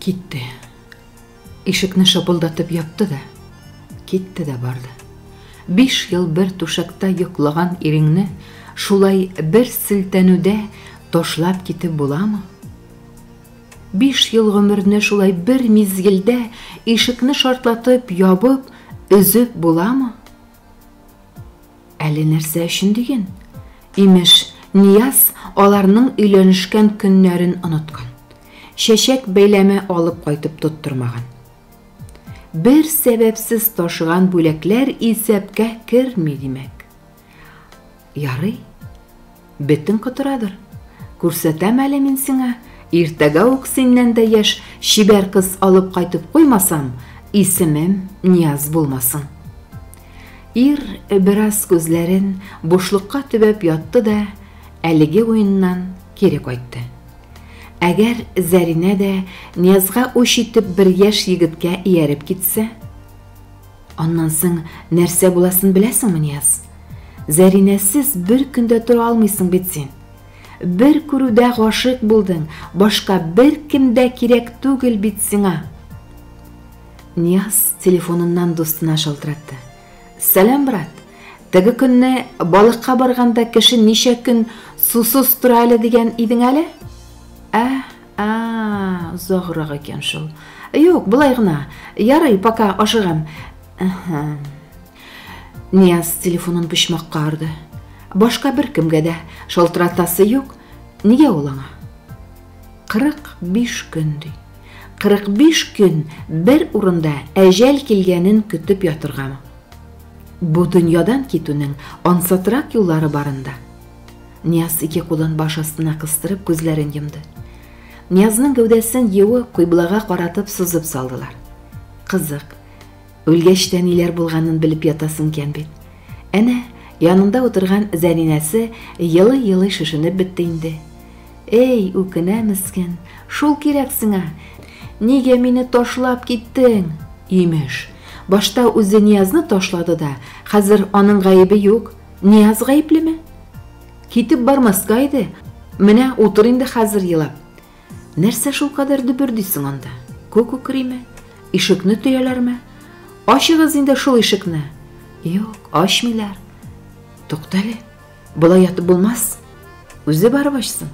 Китте. Ишекне шапылдатып япты да, китте дә барды. Биш ел бер түшәктә йоклаган иреңне шулай бер селтәнүдә ташлап китеп буламы? Биш ел гомерне шулай бер мизгелдә ишекне шартлатып ябып, өзеп буламы? Әле нәрсә өчен диген? Имеш, Нияз аларның өйләнешкән көннәрен оныткан. чәчәк бәйләме алып кайтып тоттырмаган. Бер сәбәпсез ташыган бүләкләр исәпкә керми, димәк. Ярый. Бетең котырадыр. Күрсәтәм әле мин сиңа. Иртәгә үк синнән дә яшь чибәр кыз алып кайтып куймасам, исемем Нияз булмасын. Ир бераз күзләрен бушлыкка төбәп ятты да, әлеге уеннан кире кайтты. Әгәр Зәринә дә Ниязга үч итеп бер яшь егеткә ияреп китсә? Аннан соң нәрсә буласын беләсеңме, Нияз? Зәринәсез бер көн дә тора алмыйсың бит син. Бер күрүдә гашыйк булдың, башка бер кем дә кирәк түгел бит сиңа. Нияз телефоныннан дустына шалтыратты. Сәлам, брат! Теге көнне балыкка барганда кеше ничә көн сусыз тора әле дигән идең әле? Ә, ә, озаграк икән шул. Юк, болай гына. Ярый, пока, ашыгам. Нияз телефонын почмакка орды. Башка бер кемгә дә шалтыратасы юк. Нигә ул аңа? 45 көн ди. 45 көн бер урында әҗәл килгәнен көтеп ятыргамы? Бу дөньядан китүнең ансатрак юллары барында. Нияз ике кулын баш астына кыстырып күзләрен йомды. Ниязның гәүдәсен юы кыйблага каратып сызып салдылар. Кызык. Үлгәч тә ниләр булганын белеп ятасын икән бит. Әнә, янында утырган Зәринәсе елый-елый шешенеп бетте инде. Эй, үкенә мескен, шул кирәк сиңа. Нигә мине ташлап киттең? Имеш, башта үзе Ниязны ташлады да, хәзер аның гаебе юк. Нияз гаеплеме? Китеп бармаска иде. Менә утыр инде хәзер елап. Нәрсә шул кадәр дөбердисең анда? Күк үкриме? Ишекне төяләрме? Ачыгыз инде шул ишекне. Юк, ачмыйлар. Туктале, Болай ятып булмас. Үзе барып ачсын.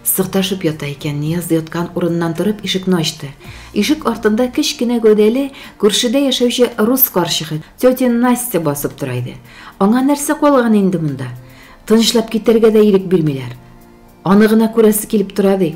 Сырташып ята икән, Нияз яткан урыннан торып ишекне ачты. Ишек артында кечкенә гәүдәле, күршедә яшәүче рус карчыгы, тетя Настя басып тора иде. Аңа нәрсә калган инде монда? Тынычлап китәргә дә ирек бирмиләр. Аны гына күрәсе килеп тора ди.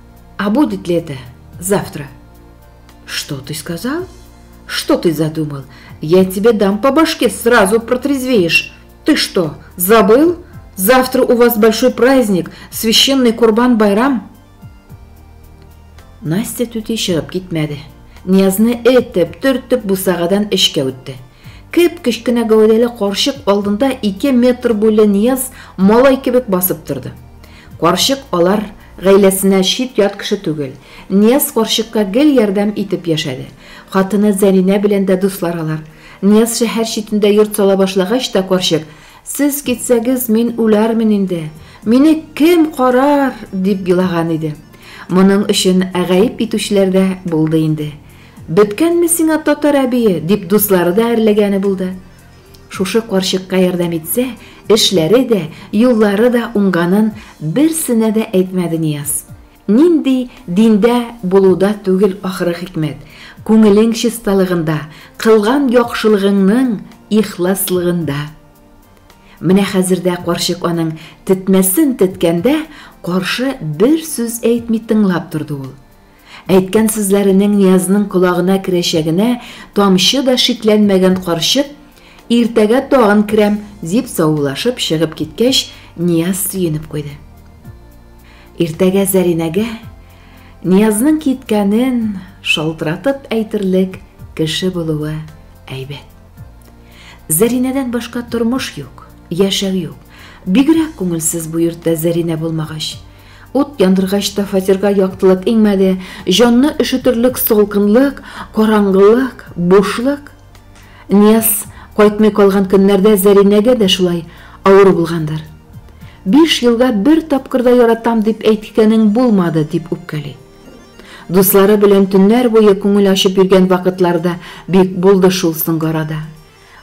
А будет ли это завтра? Что ты сказал? Что ты задумал? Я тебе дам по башке, сразу протрезвеешь. Ты что, забыл? Завтра у вас большой праздник, священный Курбан-Байрам. Настя түти чыгып китмәде. Ниязны этеп, төртеп бусагадан эшкә үтте. Кеп кечкенә гәүдәле карчык алдында 2 метр буйлы Нияз малай кебек басып торды. Карчык алар Гаиләсенә чит-ят кеше түгел. Нияз карчыкка гел ярдәм итеп яшәде. Хатыны Зәринә белән дә дуслар алар. Нияз шәһәр читендә йорт сала башлагач та карчык, Сез китсәгез, мин үләрмен инде. Мине кем карар? дип елаган иде. Моның өчен гаеп итүчеләр дә булды инде. Беткәнме сиңа татар әбие? дип дуслары да әрләгәне булды. Шушы карчыкка ярдәм итсә, эшләре дә, юллары да уңганын берсенә дә әйтмәде Нияз. Нинди диндә булуда түгел ахыры хикмәт, күңелең чисталыгында, кылган яхшылыгыңның ихласлыгында. Менә хәзер дә карчык аның тетмәсен теткәндә, каршы бер сүз әйтми тыңлап торды ул. Әйткән сүзләренең Ниязның колагына керәчәгенә тамчы да шикләнмәгән карчык, Иртәгә тагын керәм, дип саулашып чыгып киткәч, Нияз сөенеп куйды. Иртәгә Зәринәгә Ниязның киткәнен шалтыратып әйтерлек кеше булуы әйбәт. Зәринәдән башка тормыш юк, яшәү юк. Бигрәк күңелсез бу йортта Зәринә булмагач, Ут яндыргач та фатирга яктылык иңмәде, җанны өшетерлек салкынлык, караңгылык, бушлык. Нияз кайтмый калган көннәрдә Зәринәгә дә шулай авыр булгандыр. Биш елга бер тапкыр да яратам дип әйткәнең булмады, дип үпкәли. Дуслары белән төннәр буе күңел ачып йөргән вакытлары да бик булды шул соңгы арада.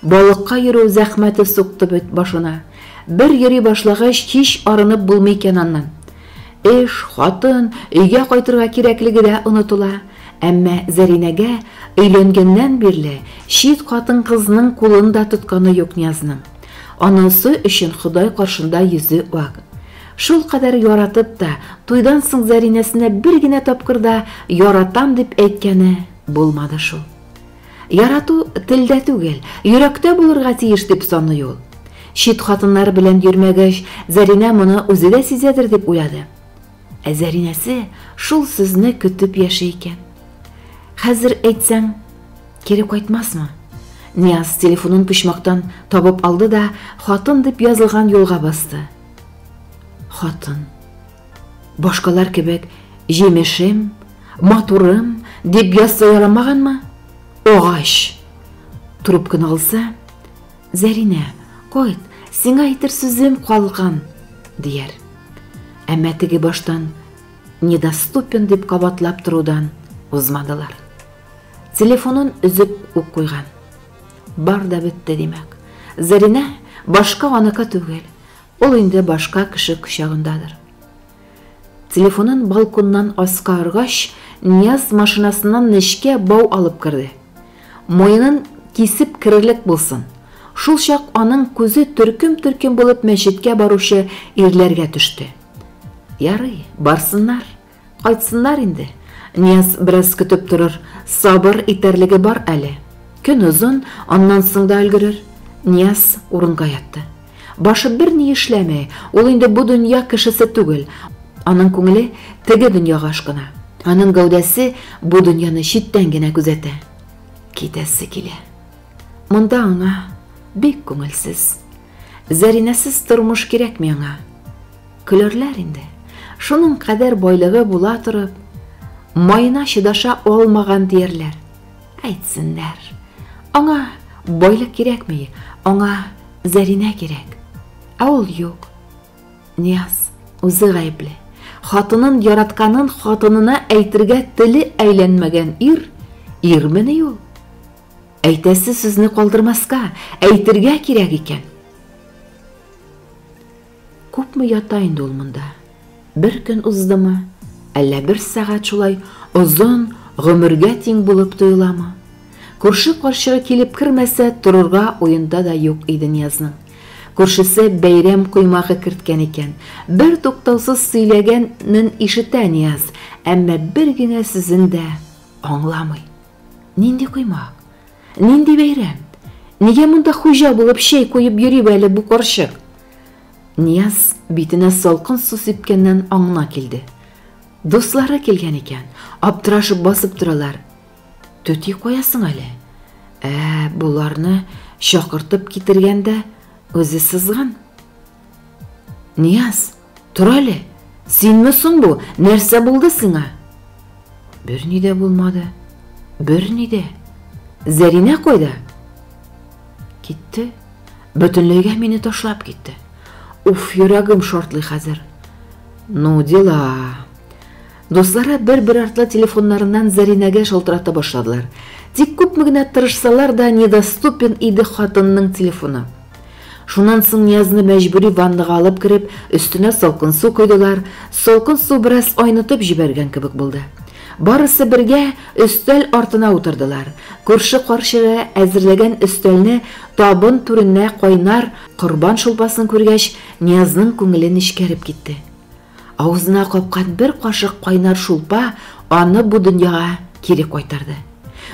Балыкка йөрү зәхмәте сукты бит башына. Бер йөри башлагач, һич арынып булмый икән аннан. Эш, хатын, өйгә кайтырга кирәклеге дә онытыла. Әмма Зәринәгә өйләнгәннән бирле чит хатын-кызның кулын да тотканы юк Ниязның. Анасы өчен Ходай каршында йөзе ак. Шулкадәр яратып та, туйдан соң Зәринәсенә бер генә тапкыр да яратам дип әйткәне булмады шул. Ярату телдә түгел, йөрәктә булырга тиеш, дип саный ул. Чит хатыннар белән йөрмәгәч, Зәринә моны үзе дә сизәдер дип уйлады. Ә Зәринәсе шул сүзне көтеп яши икән. Хәзер әйтсәң, кире кайтмасмы? Нияз телефонын почмактан табып алды да, хатын дип язылган юлга басты. Хатын. Башкалар кебек җимешем, матурым дип ясса яламаганмы? Агач! Трубканы алса, Зәринә, кайт, сиңа әйтер сүзем калган, дияр. Әмма теге баштан недоступен дип кабатлап торудан узмадылар. Телефонын өзеп үк куйган. Бар да бетте, димәк. Зәринә башка аныкы түгел. Ул инде башка кеше кочагындадыр. Телефонын балконнан аска оргач, Нияз машинасыннан нечкә бау алып керде. Муенын кисеп керерлек булсын. Шул чак аның күзе төркем-төркем булып мәчеткә баручы ирләргә төште. Ярый, барсыннар. Кайтсыннар инде. Нияз бераз көтеп торыр, сабыр итәрлеге бар әле. Көн озын, аннан соң да өлгерер. Нияз урынга ятты. Башы берни эшләмәй, ул инде бу дөнья кешесе түгел. Аның күңеле теге дөньяга ашкына. Аның гәүдәсе бу дөньяны читтән генә күзәтә. Китәсе килә. Монда аңа бик күңелсез. Зәринәсез тормыш кирәкми аңа. Көләрләр инде. Шуның кадәр байлыгы була торып, маена чыдаша алмаган диярләр. Әйтсеннәр. Аңа байлык кирәкми, аңа Зәринә кирәк. Ә ул юк. Нияз үзе гаепле. Хатынын яратканын хатынына әйтергә теле әйләнмәгән ир, ирмени ул? Әйтәсе сүзне калдырмаска, әйтергә кирәк икән. Күпме ята инде ул монда? Бер көн уздымы, әллә бер сәгать шулай озын гомергә тиң булып тоеламы? Күрше карчыгы килеп кермәсә, торырга уенда да юк иде Ниязның. Күршесе бәйрәм коймагы керткән икән. Бер туктаусыз сөйләгәнен ишетә Нияз, әмма бер генә сүзен дә аңламый. Нинди коймак? Нинди бәйрәм? Нигә монда хуҗа булып чәй куеп йөри әле бу карчык? Нияз битенә салкын су сипкәннән аңына килде. Дуслары килгән икән, аптырашып басып торалар. Төти куясың әле. Ә, боларны чакыртып китергәндә үзе сызган. Нияз, Тор әле, синме соң бу, нәрсә булды сиңа? Берни дә булмады, берни дә. Зәринә кайда? Китте, бөтенләйгә мине ташлап китте. Уф, йөрәгем шартлый хәзер. Ну, дела. Дуслары бер-бер артлы телефоннарыннан Зәринәгә шалтырата башладылар. Тик күпме генә тырышсалар да, недоступен иде хатынның телефоны. Шуннан соң Ниязны мәҗбүри ваннага алып кереп, өстенә салкын су койдылар, салкын су бераз айнытып җибәргән кебек булды. Барысы бергә өстәл артына утырдылар, күрше карчыгы әзерләгән өстәлне табын түренә кайнар корбан шулпасын күргәч, Ниязның күңеле нечкәреп китте. Авызына капкан бер кашык кайнар шулпа аны бу дөньяга кире кайтарды.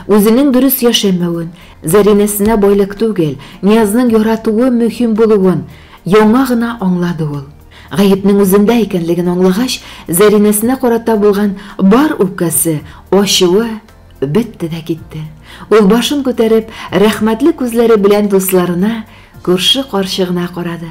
Үзенең дөрес яшәмәвен, Зәринәсенә байлык түгел, Ниязның яратуы мөһим булуын яңа гына аңлады ул. Гаепнең үзендә икәнлеген аңлагач, Зәринәсенә карата булган бар үпкәсе, ачуы бетте дә китте. Ул башын күтәреп, рәхмәтле күзләре белән дусларына, күрше карчыгына карады.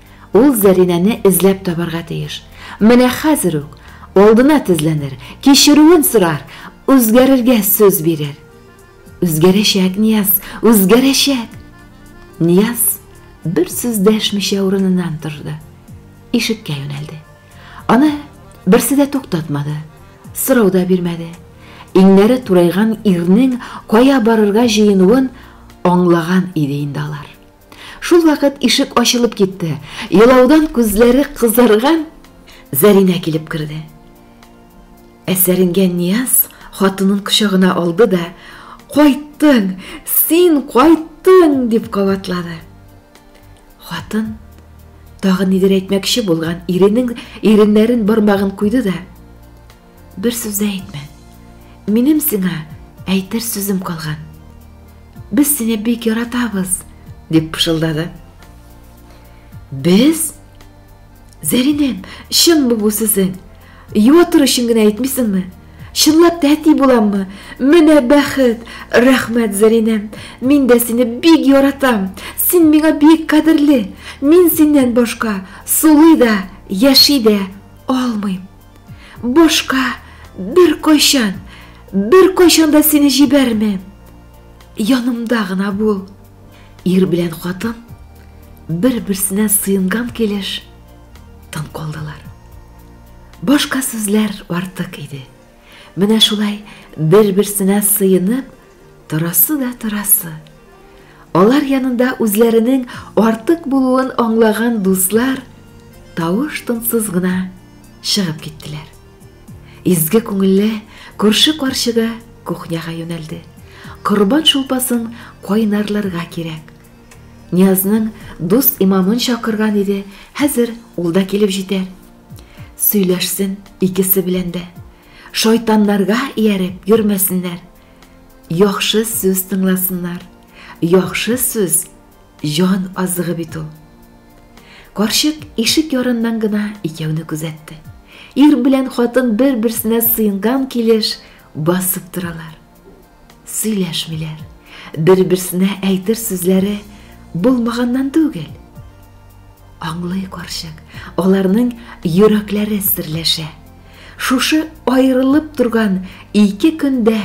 Ул Зәринәне эзләп табарга тиеш. Менә хәзер үк алдына тезләнер, кичерүен сорар, үзгәрергә сүз бирер. Үзгәрәчәк, Нияз, үзгәрәчәк! Нияз бер сүз дәшмичә урыныннан торды. Ишеккә юнәлде. Аны берсе дә туктатмады, сорау да бирмәде. Иңнәре турайган ирнең кая барырга җыенуын аңлаган иде инде алар. Шул вакыт ишек ачылып китте. Елаудан күзләре кызарган Зәринә килеп керде. Әсәренгән Нияз хатынын кочагына алды да, "Кайттың! Син кайттың!" дип кабатлады. Хатын тагын нидер әйтмәкче булган иренең иреннәрен бармагын куйды да, Бер сүз дә әйтмә. Минем сиңа әйтер сүзем калган. Без сине бик яратабыз, дип пышылдады. Без? Зәринәм, чынмы бу сүзең? Юа тору өчен генә әйтмисеңме? Чынлап та әти буламмы? Менә бәхет! Рәхмәт, Зәринәм. Мин дә сине бик яратам. Син миңа бик кадерле. Мин синнән башка сулый да, яши дә алмыйм. Башка бер кайчан, бер кайчан да сине җибәрмәм. Янымда гына бул. Ир белән хатын бер-берсенә сыенган килеш тын калдылар. Башка сүзләр артык иде. Менә шулай бер-берсенә сыенып Торасы да торасы. Алар янында үзләренең артык булуын аңлаган дуслар тавыш-тынсыз гына чыгып киттеләр. Изге күңелле күрше карчыгы кухняга юнәлде. Корбан шулпасын кайнарларга кирәк. Ниязның дус имамын чакырган иде, хәзер ул да килеп җитәр. Сөйләшсен икесе белән дә. Шайтаннарга ияреп йөрмәсеннәр. Яхшы сүз тыңласыннар. Яхшы сүз җан азыгы бит ул. Карчык ишек ярыннан гына икәүне күзәтте. Ир белән хатын бер-берсенә сыенган килеш басып торалар. Сөйләшмиләр. Бер-берсенә әйтер сүзләре булмаганнан түгел. Аңлый карчык, аларның йөрәкләре серләшә. Шушы аерылып торган ике көндә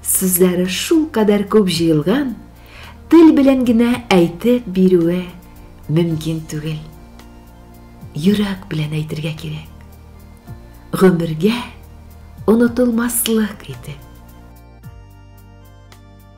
сүзләре шул кадәр күп җыелган, тел белән генә әйтеп бирүе мөмкин түгел. Йөрәк белән әйтергә кирәк. Гомергә онытылмаслык итеп.